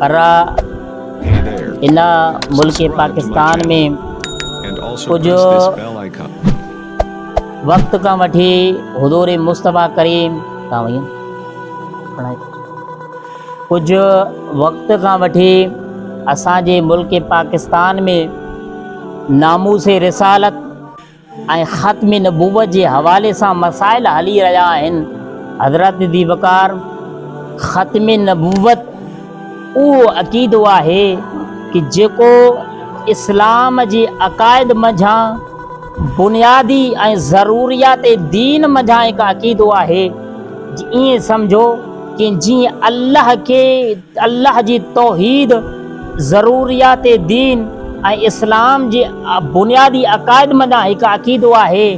ارا الا ملڪ پاڪستان ۾ ڪجهه وقت کان وٺي حضور مصطفيٰ ڪريم ڪجهه وقت کان وٺي اسان جي ملڪ پاڪستان ۾ ناموس رسالت ۽ ختم نبوت جي حوالي سان مسائل هلي رهيا آهن حضرت ذي وقار ختم نبوت اهو عقيدو آهي ڪه جيڪو اسلام جي عقائد منجهان بنيادي ۽ ضروريات دين منجهان هڪ عقيدو آهي ائين سمجهو ڪه جيئن الله کي الله جي توحيد، ضروريات دين ۽ اسلام جي بنيادي عقائد منجهان هڪ عقيدو آهي.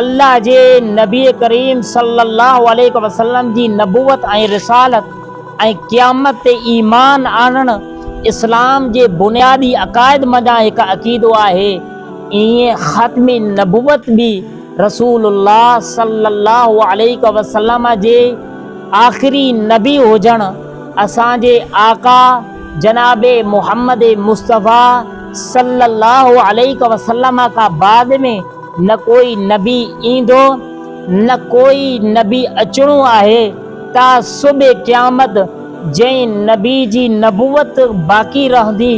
الله جي نبي ڪريم صلي الله عليه وسلم جي نبوت ۽ رسالت ۽ قيامت تي ايمان آڻڻ اسلام جي بنيادي عقائد منجهان هڪ عقيدو آهي. ايئن ختم نبوت به رسول الله صلي الله عليه وسلم جي آخري نبي هجڻ اسان جي آقا جناب محمد مصطفيٰ صلّي اللّٰه عليه وسلّم کان بعد ۾ نه ڪوئي نبي ايندو نه ڪوئي نبي اچڻو آهي تا صبح قيامت جنهن نبي جي نبوت باقي رهندي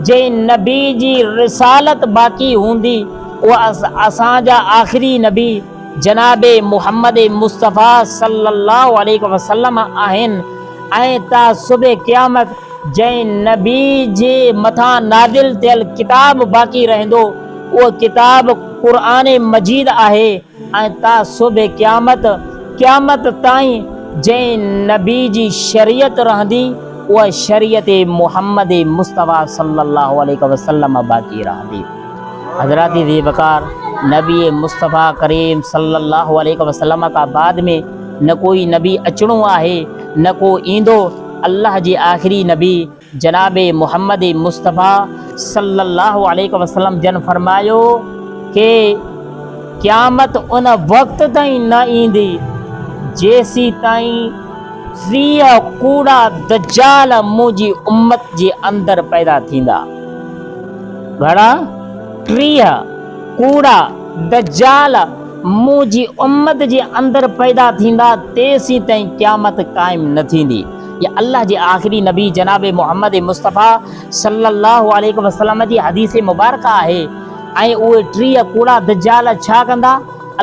جنهن نبي جي رسالت باقي هوندي اهي اسان جا آخري نبي جناب محمد مصطفيٰ صلّي اللّٰه عليه وسلّم آهن ۽ تا صبح قيامت جنهن نبي جي مٿان نازل ٿيل ڪتاب باقي رهندو اهو ڪتاب قرآن مجيد آهي ۽ تا صبح قيامت، قيامت تائين، جنهن نبي جي شريعت رهندي اها شريعت محمد مصطفيٰ صلّي اللّٰه عليه وسلّم باقي رهندي. حضرات ذي وقار نبي مصطفيٰ ڪريم صلي الله عليه وسلم کان بعد ۾ نه ڪوئي نبي اچڻو آهي نه ڪو ايندو الله جي آخري نبي جناب محمد مصطفيٰ صلي الله عليه وسلم جن فرمايو ڪي قيامت ان وقت تائين نه ايندي جيسي تائين ٽيهه ڪوڙا دجال منهنجي امت جي اندر پيدا ٿيندا. گهڻا ٽيهه ڪوڙا دجال منهنجي امت جي اندر پيدا ٿيندا تيسيتائين قيامت قائم نه ٿيندي يا الله جي آخري نبي جناب محمد مصطفيٰ صلي الله عليه وسلم جي حديث مبارڪه آهي ۽ اهي ٽيهه ڪوڙا دجال ڇا ڪندا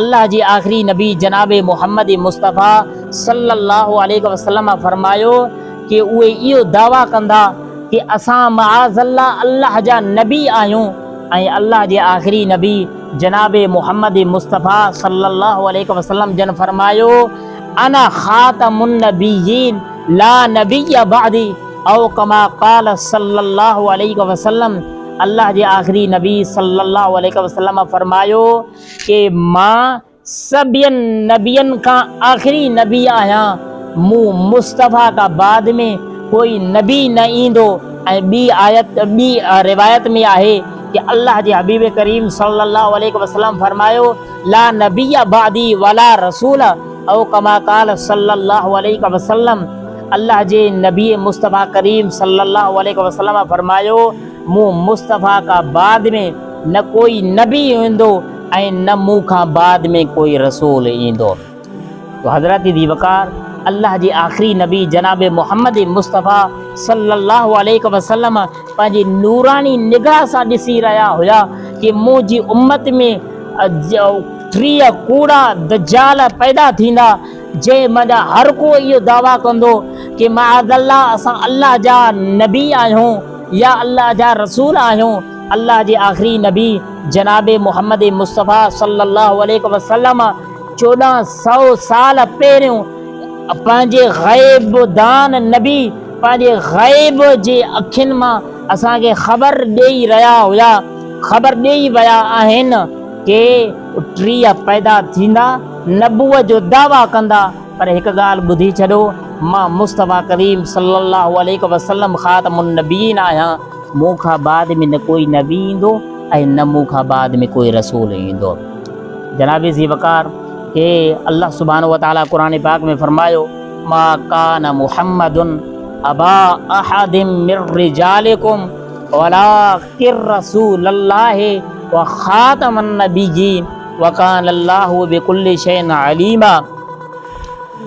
الله جي آخري نبي جناب محمد مصطفيٰ صلي الله عليه وسلم فرمايو ڪي اهي اهو دعويٰ ڪندا ته اسان معاذ الله الله جا نبي آهيون ۽ الله جي آخري نبي جناب محمد مصطفيٰ صلّي الله عليه وسلّم جن فرمايو، انا خاتم النبيين لا نبي بعدي او ڪما قال صلّي الله عليه وسلّم الله جي آخري نبي صلّي الله عليه وسلّم فرمايو ڪي مان سڀين نبين کان آخري نبي آهيان، مون، مصطفيٰ، کان بعد ۾ ڪوئي نبي نه ايندو ۽ ٻي آيت، ٻي روايت، ۾ آهي ته الله جي حبيب ڪريم صلّي اللّٰه عليه وسلّم فرمايو، لا نبي بعدي ولا رسول او ڪما قال صلّي اللّٰه عليه وسلّم، الله جي نبي مصطفيٰ ڪريم صلّي اللّٰه عليه وسلّم فرمايو، مون، مصطفيٰ، کان بعد ۾ نه ڪوئي نبي ايندو، ۽ نه مون کان بعد ۾ ڪوئي رسول ايندو. تو حضرت ذي وقار الله جي آخري نبي جناب محمد مصطفيٰ صلّي الله عليه وسلّم پنهنجي نوراني نگاهه سان ڏسي رهيا هيا ڪي منهنجي امّت ۾ ٽيهه ڪوڙا دجّال پيدا ٿيندا جنهن مان هر ڪو اهو دعويٰ ڪندو ڪي معاذ الله اسان الله جا نبي آهيون يا الله جا رسول آهيون. الله جي آخري نبي جناب محمد مصطفيٰ صلّي الله عليه وسلّم چوڏهن سؤ سال پهريون پنهنجي غيب دان نبي پنهنجي غيب جي اکين مان اسان کي خبر ڏيئي رهيا هيا خبر ڏيئي ويا آهن ڪي ٽيهه پيدا ٿيندا نبوت جو دعويٰ ڪندا پر هڪ ڳالهه ٻڌي ڇڏو مان مصطفيٰ ڪريم صلّي الله عليه وسلّم خاتم النبيين آهيان. مون کان بعد ۾ نه ڪوئي نبي ايندو ۽ نه مون کان بعد ۾ ڪوئي رسول ايندو. جناب ذي وقار کي الله سبحانه وتعاليٰ قرآن پاڪ ۾ فرمايو، ما ڪان محمد ابا احد من رجالڪم ولٰڪن رسول الله وخاتم النبيين وڪان الله بڪل شيء عليما.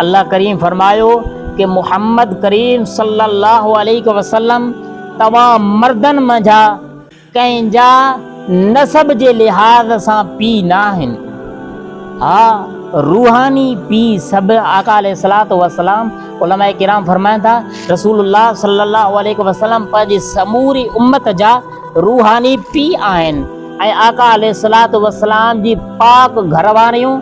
الله ڪريم فرمايو ته محمد ڪريم صلّي اللّٰه عليه وسلّم توهان مردن منجهان ڪنهن جا نسب جي لحاظ سان پيء ناهن، ها روحاني پيء سڀ آقا عليه الصلوة والسلام علماء ڪرام فرمائن ٿا رسول الله صلّي اللّٰه عليه وسلّم پنهنجي سموري امّت جا روحاني پيء آهن ۽ آقا عليه الصلوة والسلام جي پاڪ گهرواريون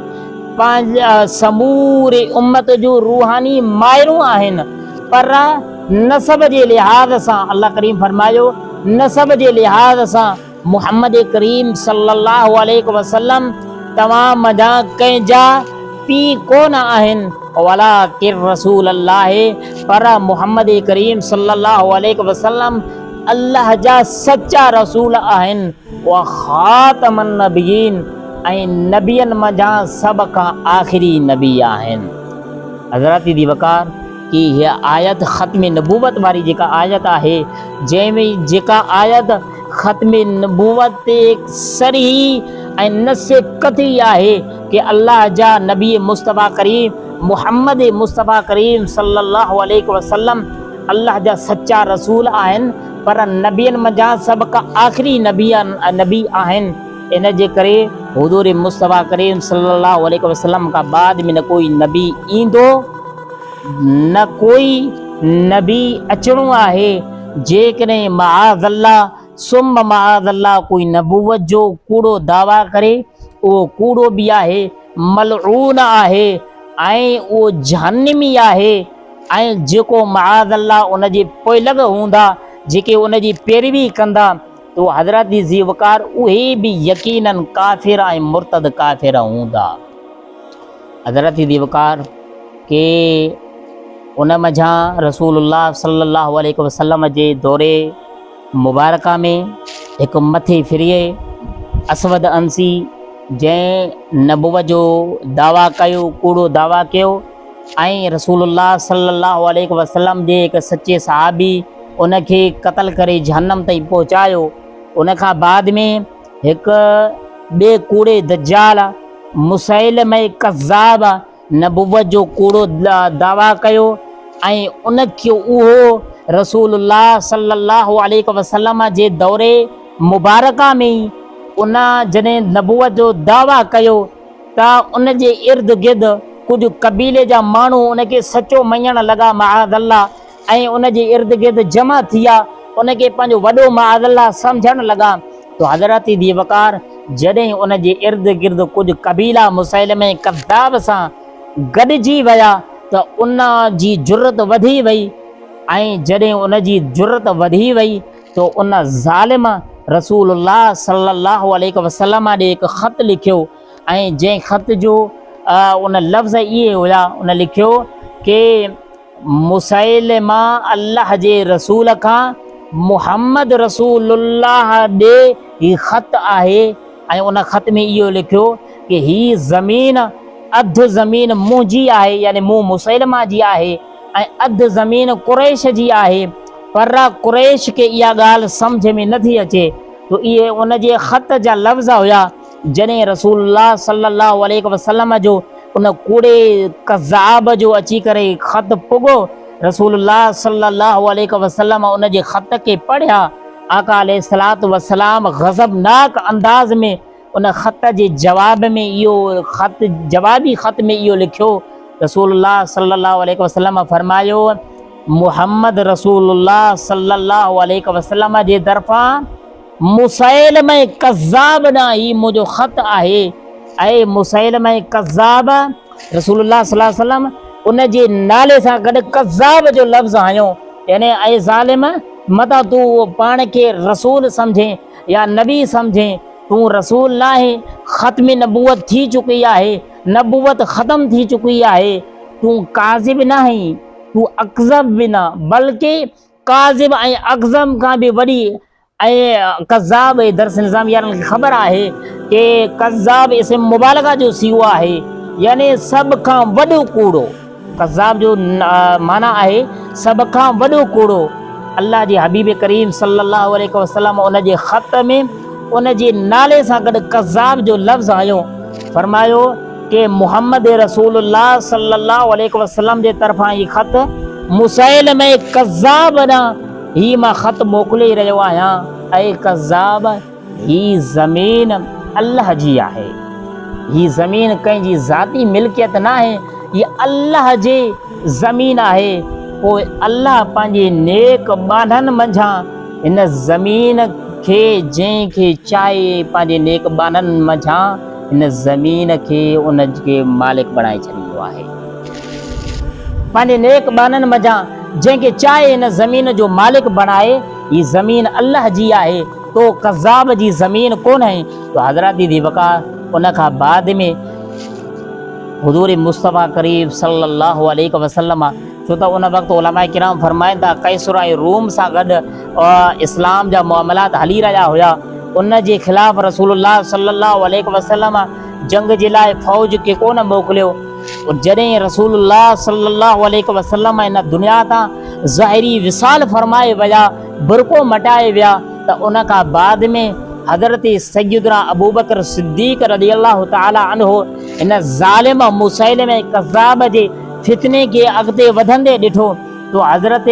پنهنجي سموري امت جون روحاني مائرون آهن پر نسب جي لحاظ سان الله ڪريم فرمايو نسب جي لحاظ سان محمد ڪريم صلي الله عليه وسلم توهان منجهان ڪنهن جا پيء ڪونه آهن ولٰڪن رسول الله پر محمد ڪريم صلي الله عليه وسلم الله جا سچا رسول آهن. اها خاتم النبيين ۽ نبين منجهان سڀ کان آخري نبي آهن. حضرات دي وقار ڪي هيء آيت ختم نبوت واري جيڪا آيت آهي جنهن ۾ جيڪا آيت ختم نبوت تي صريح ۽ نص قطعي آهي ڪي الله جا نبي مصطفيٰ ڪريم محمد مصطفيٰ ڪريم صلّي اللّٰه عليه وسلّم الله جا سچا رسول آهن پر نبين منجهان سڀ کان آخري نبي نبي آهن، ان جي ڪري حضور مصطفيٰ ڪريم صلّي اللّٰه عليه وسلّم کان بعد ۾ نه ڪوئي نبي ايندو، نه ڪوئي نبي اچڻو آهي، جيڪڏهن معاذ الله ثم معاذ الله ڪوئي نبوت جو ڪوڙو دعويٰ ڪري، اهو ڪوڙو به آهي، ملعون آهي ۽ اهو جهنّمي آهي. ۽ جيڪو معاذ الله ان جي پوئلڳ هوندا جيڪي ان جي پيروي ڪندا تو حضرت جي ذي وقار اهي به يقيناً ڪافر ۽ مرتد ڪافر هوندا حضرت جي ذي وقار ڪي ان منجهان رسول الله صلي الله عليه وسلم جي دوري مبارڪه ۾ هڪ مٿي فريء اسود انسي جنهن نبوت جو دعويٰ ڪيو ڪوڙو دعويٰ ڪيو ۽ رسول الله صلي الله عليه وسلم جي هڪ سچي صحابي ان کي قتل ڪري جهنم تائين پهچايو ان کان بعد ۾ هڪ ٻي ڪوڙي دجال مسيلمه ڪذاب نبوت جو ڪوڙو دعويٰ ڪيو ۽ ان کي اهو رسول الله صلي الله عليه وسلم جي دور مبارڪه ۾ ئي ان جڏهن نبوت جو دعويٰ ڪيو ته ان جي ارد گرد ڪجهه قبيلي جا ماڻهو ان کي سچو مڃڻ لڳا معاذ الله ۽ ان جي ارد گرد جمع ٿيا ان کي پنهنجو وڏو معاذ الله سمجهڻ لڳا ته حضرت ذي وقار جڏهن ان جي ارد گرد ڪجهه قبيلا مسيلمه ڪذاب سان گڏجي ويا ته ان جي جرئت وڌي وئي ۽ جڏهن ان جي جرئت وڌي وئي سو ان ظالم رسول الله صلي الله عليه وسلم ڏي هڪ خط لکيو ۽ جنهن خط جو ان لفظ اهي هيا ان لکيو ڪي مسيلمه الله جي رسول کان محمد رسول الله ڏي هي خط آهي ۽ ان خط ۾ اهو لکيو ڪي هي زمين اڌ زمين منهنجي آهي يعني مون مسيلمه جي آهي ۽ اڌ زمين قريش جي آهي، پر قريش کي اها ڳالهه سمجهه ۾ نٿي اچي جو اهي ان جي خط جا لفظ هيا، جڏهن رسول الله صلّي اللّٰه عليه وسلّم جو ان ڪوڙي ڪذّاب جو اچي ڪري خط پڳو، رسول الله صلّي اللّٰه عليه وسلّم ان جي خط کي پڙهيا، آقا عليه الصلّوة والسلّام غضبناڪ انداز ۾ ان خط جي جواب ۾ اهو خط جوابي خط ۾ اهو لکيو رسول الله صلي الله عليه وسلم فرمايو محمد رسول الله صلي الله عليه وسلم جي طرفان مسيلمه کذاب نه هي منهنجو خط آهي اي مسيلمه کذاب رسول الله صلي الله عليه وسلم ان جي نالي سان گڏ کذاب جو لفظ هنيو يعني اي ظالم متان تون پاڻ کي رسول سمجهين يا نبي سمجهين، تون رسول ناهين، ختم نبوت ٿي چڪي آهي، نبوت ختم ٿي چڪي آهي، تون ڪاذب ناهين، تون اڪذب به نه، بلڪ ڪاذب ۽ اڪذب کان به وڏي ۽ ڪذاب اهي درس نظام يارن کي خبر آهي ته ڪذاب اسم مبالغه جو صيغو آهي يعني سڀ کان وڏو ڪوڙو. ڪذاب جو معنيٰ آهي سڀ کان وڏو ڪوڙو. الله جي حبيب ڪريم صلّي اللّٰه عليه وسلّم ان جي خط ۾ ان جي نالي سان گڏ ڪذاب جو لفظ هنيو. فرمايو ته محمّد رسول الله صلّي اللّٰه عليه وسلّم جي طرفان هي خط مسيلمه ڪذاب ڏانهن هي مان خط موڪلي رهيو آهيان. اي ڪذاب! هي زمين الله جي آهي. هي زمين ڪنهن جي ذاتي ملڪيت ناهي، هي الله جي زمين آهي. پوء الله پنهنجي نيڪ ٻانهن منجهان هن زمين کي جنهن کي چاهي پنهنجي نيڪ ٻانهن منجهان هن زمين کي ان کي مالڪ بڻائي ڇڏيندو آهي. پنهنجي نيڪ ٻانهن منجهان جنهن کي چاهي هن زمين جو مالڪ بڻائي. هي زمين الله جي آهي. تو ڪذاب جي زمين ڪونهي تو حضرت ذي وقار ان کان بعد ۾ حضور مصطفي قريب صلي الله عليه وسلم ڇو ته ان وقت علماء کرام فرمائن ٿا قيصر ۽ روم سان گڏ اسلام جا معاملات هلي رهيا هيا ان جي خلاف رسول الله صلي الله عليه وسلم جنگ جي لاء فوج کي ڪونه موڪليو جڏهن رسول الله صلي الله عليه وسلم ان دنيا تان ظاهري وصال فرمائي ويا برقعو مٽائي ويا ته ان کان بعد ۾ حضرت سيدنا ابوبڪر صديق رضي الله تعالٰي عنه هن ظالم مسيلمه ڪذاب جي فتني کي اڳتي وڌندي ڏٺو تو حضرت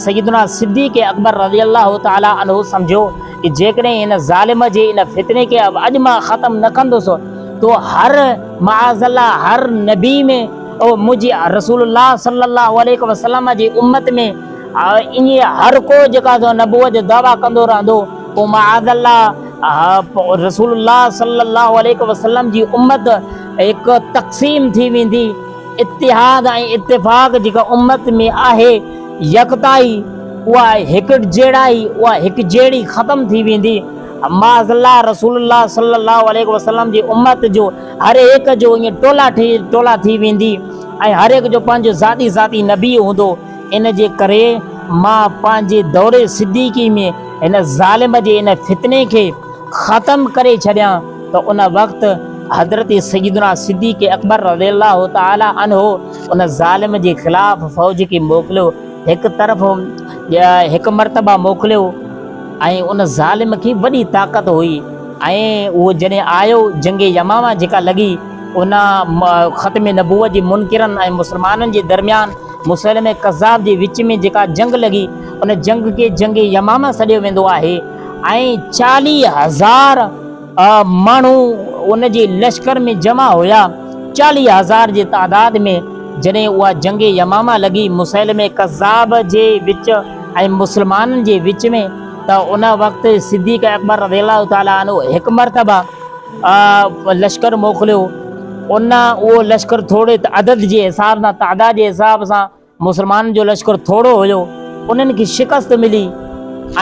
سيدنا صديق اڪبر رضي الله تعالٰي عنه سمجهيو ته جيڪڏهن هن ظالم جي ان فتني کي اڄ مان ختم نه ڪندس تو هر معاذ الله هر نبي ۾ منهنجي رسول الله صلي الله عليه وسلم جي امت ۾ آء انهيء هر ڪو جيڪا سو نبوت جو دعويٰ ڪندو رهندو پوء معاذ الله رسول الله صلّي الله عليه وسلّم جي امّت هڪ تقسيم ٿي ويندي، اتحاد ۽ اتفاق جيڪا امّت ۾ آهي، يڪتائي، اها هڪجهڙائي، اها هڪجهڙي ختم ٿي ويندي، معاذ الله رسول الله صلّي الله عليه وسلّم جي امّت جو هر هڪ جو ائين ٽولا ٽولا ٿي ويندي ۽ هر هڪ جو پنهنجو ذاتي ذاتي نبي هوندو. ان جي ڪري مان پنهنجي دور صديقي ۾ هن ظالم جي ان فتني کي ختم ڪري ڇڏيان ته ان وقت حضرت سيدنا صديق اڪبر رضي الله تعالٰي عنه ان ظالم جي خلاف فوج کي موڪليو هڪ طرف هڪ مرتبه موڪليو ۽ ان ظالم کي وڏي طاقت هئي ۽ اهو جڏهن آيو جنگ يماما جيڪا لڳي ان ختم نبوت جي منڪرن ۽ مسلمانن جي درميان مسيلمه ڪذاب جي وچ ۾ جيڪا جنگ لڳي ان جنگ کي جنگ يمامه سڏيو ويندو آهي ۽ چاليهه هزار ماڻهو ان جي لشڪر ۾ جمع هيا چاليهه هزار جي تعداد ۾ جڏهن اها جنگ يمامه لڳي مسيلمه ڪذاب جي وچ ۽ مسلمانن جي وچ ۾ ته ان وقت صديق اڪبر رضي الله تعالٰي عنه هڪ مرتبه لشڪر موڪليو، ان اهو لشڪر ٿوري عدد جي حساب سان، تعداد جي حساب سان مسلمانن جو لشڪر ٿورو هيو، انهن کي شڪست ملي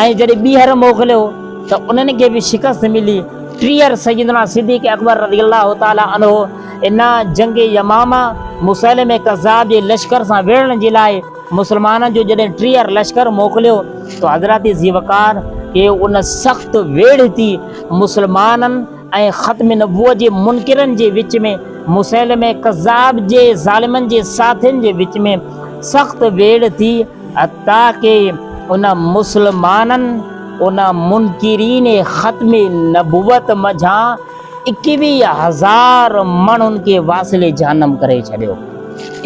۽ جڏهن ٻيهر موڪليو ته انهن کي به شڪست ملي، ٽيهر سيدنا صديق اڪبر رضي الله تعالٰي عنه ان جنگ يمامه مسيلمه ڪذاب جي لشڪر سان وڙهڻ جي لاء، مسلمانن جو جڏهن ٽيهر لشڪر موڪليو ته حضرات ذوالفقار کي ان سخت ويڙهتي مسلمانن ۽ ختم نبوت جي منڪرن جي وچ ۾ مسيلمه ڪذاب جي ظالمن جي ساٿين جي وچ ۾ سخت ويڙهه ٿي حتيٰ ڪي ان مسلمانن ان منڪرين ختم نبوت منجهان ايڪويهه هزار ماڻهن کي واصل جهنم ڪري ڇڏيو.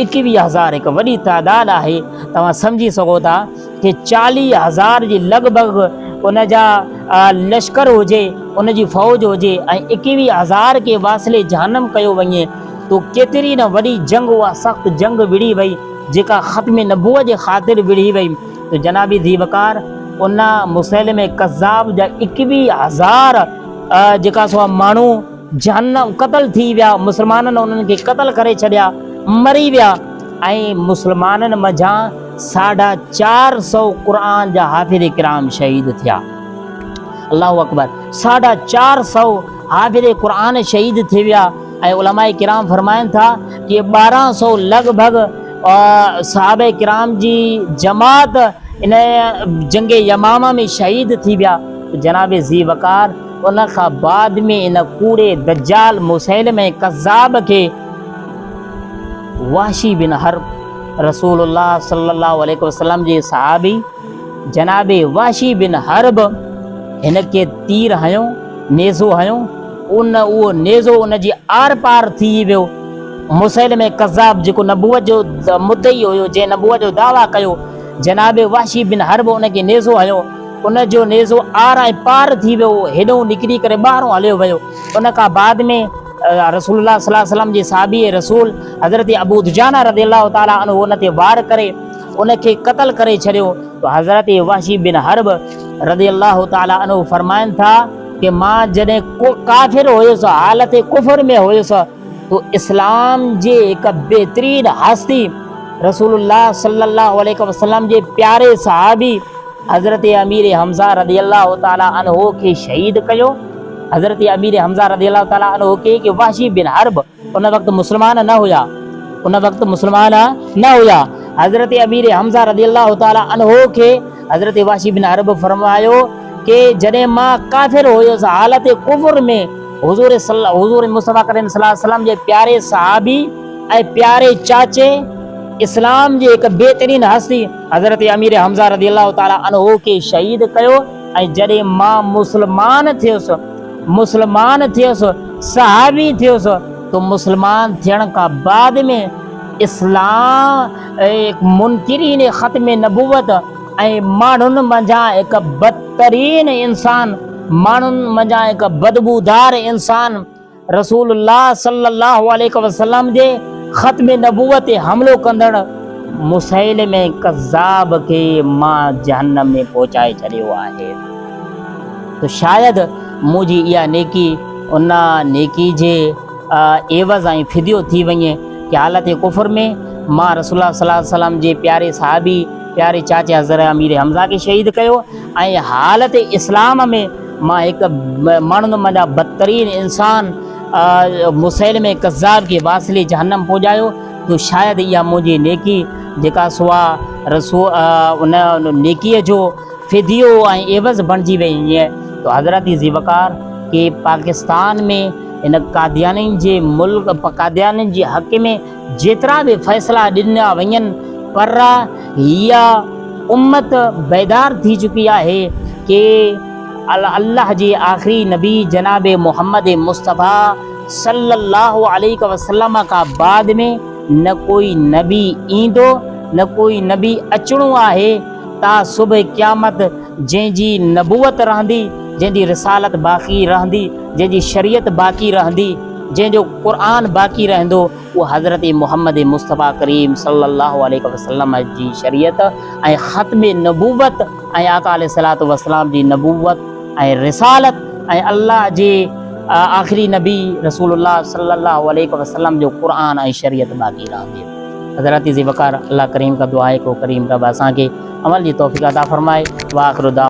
ايڪويهه هزار هڪ وڏي تعداد آهي. توهان سمجهي سگهو ٿا ته چاليهه هزار جي لڳ ڀڳ ان جا لشڪر هجي، ان جي فوج هجي ۽ ايڪويهه هزار کي واصل جهنم ڪيو وڃي تو ڪيتري نه وڏي جنگ اها سخت جنگ وڙهي وئي جيڪا ختم نبوت جي خاطر وڙهي وئي تو جنابي ذي وقار ان مسيلمه ڪذاب جا ايڪويهه هزار جيڪا سو ماڻهو جان قتل ٿي ويا، مسلمانن انهن کي قتل ڪري ڇڏيا، مري ويا ۽ مسلمانن منجهان ساڍا چار سو قرآن جا حافظ ڪرام شهيد ٿيا. الله اڪبر ساڍا چار سو حافظ قرآن شهيد ٿي ويا ۽ علماء ڪرام فرمائن ٿا ڪي ٻارهن سو لڳ ڀڳ صحابه ڪرام جي جماعت ان جنگ يمامه ۾ شهيد ٿي ويا. جناب ذي وقار ان کان بعد ۾ ان ڪوڙي دجال مسيلمه ۽ ڪذاب کي وحشي بن حرب رسول الله صلي الله عليه وسلم جي صحابي جناب وحشي بن حرب هن کي تير هنيو نيزو هنيو ان اهو نيزو ان جي آر پار ٿي ويو مسيل ۾ قذاب جيڪو نبوت جو مدعي هيو جنهن نبوت جو دعويٰ ڪيو جناب واشي بن حرب ان کي نيزو هيو ان جو نيزو آر ۽ پار ٿي ويو، هيڏهون نڪري ڪري ٻاهرون هليو ويو. ان کان بعد ۾ رسول الله صلي الله عليه وسلم جي صحابي رسول حضرت ابو دجانه رضي الله تعالٰي عنه ان تي وار ڪري ان کي قتل ڪري ڇڏيو ته حضرت وحشي بن حرب رضي الله تعالٰي عنه فرمائن ٿا ته مان جڏهن ڪافر هيس حالت ڪفر ۾ هيس، هو اسلام جي هڪ بهترين هستي رسول الله صلي الله عليه وسلم جي پياري صحابي حضرت امير حمزه رضي الله تعالي عنه کي شهيد ڪيو حضرت امير حمزه رضي الله تعالي عنه کي کہ وحشي بن حرب ان وقت مسلمان نه هيا ان وقت مسلمان نه هيا حضرت امير حمزه رضي الله تعالي عنه کي حضرت وحشي بن حرب فرمايو کہ جڏهن مان ڪافر هيس حالت ڪفر ۾ حضور حضور مصطفيٰ ڪريم صلي الله عليه وسلم جي پياري صحابي ۽ پياري چاچي اسلام جي هڪ بهترين هستي حضرت امير حمزه رضي الله تعالٰي عنه کي شهيد ڪيو ۽ جڏهن مان مسلمان ٿيس مسلمان ٿيس صحابي ٿيس تو مسلمان ٿيڻ کان بعد ۾ اسلام منڪرين ختم نبوت ۽ ماڻهن منجهان هڪ بدترين انسان، ماڻهن منجهان هڪ بدبودار انسان رسول الله صلّي الله عليه وسلّم جي ختم نبوت تي حملو ڪندڙ مسيلمه ڪذّاب کي مان جهنّم ۾ پهچائي ڇڏيو آهي ته شايد منهنجي اها نيڪي ان نيڪي جي عيوض ۽ فديو ٿي وڃي ڪي حالت ڪفر ۾ مان رسول الله صلّي الله عليه وسلّم جي پياري صحابي پياري چاچي حضرت امير حمزه کي شهيد ڪيو ۽ حالت اسلام ۾ مان هڪ ماڻهن مان جا بدترين انسان مسيلمه ڪذاب کي واصلي جهنم پڄايو جو شايد اها منهنجي نيڪي جيڪا سوا رسو ان نيڪي جو فديو ۽ عيوض بڻجي وئي هئي تو حضرت ذي وقار کي پاڪستان ۾ ان قاديانين جي ملڪ قاديانين جي حق ۾ جيترا به فيصلا ڏنا وڃن پر هيء امت بيدار ٿي چڪي آهي ڪي الله جي آخري نبي جناب محمد مصطفيٰ صلّي الله عليه وسلّم کان بعد ۾ نه ڪوئي نبي ايندو نه ڪوئي نبي اچڻو آهي تا صبح قيامت جنهن جي نبوت رهندي جنهن جي رسالت باقي رهندي جنهن جي شريعت باقي رهندي. جنهن جو قرآن باقي رهندو اهو حضرت محمد مصطفيٰ ڪريم صلّي اللّٰه عليه وسلّم جي شريعت ۽ ختم نبوت ۽ آقا عليه الصلّوة والسلام جي نبوت ۽ رسالت ۽ الله جي آخري نبي رسول الله صلّي اللّٰه عليه وسلّم جو قرآن ۽ شريعت باقي رهندي. حضرات ذي وقار الله ڪريم کان دعا آهي ڪو ڪريم رب اسان کي عمل جي توفيق عطا فرمائي واخر دعوانا.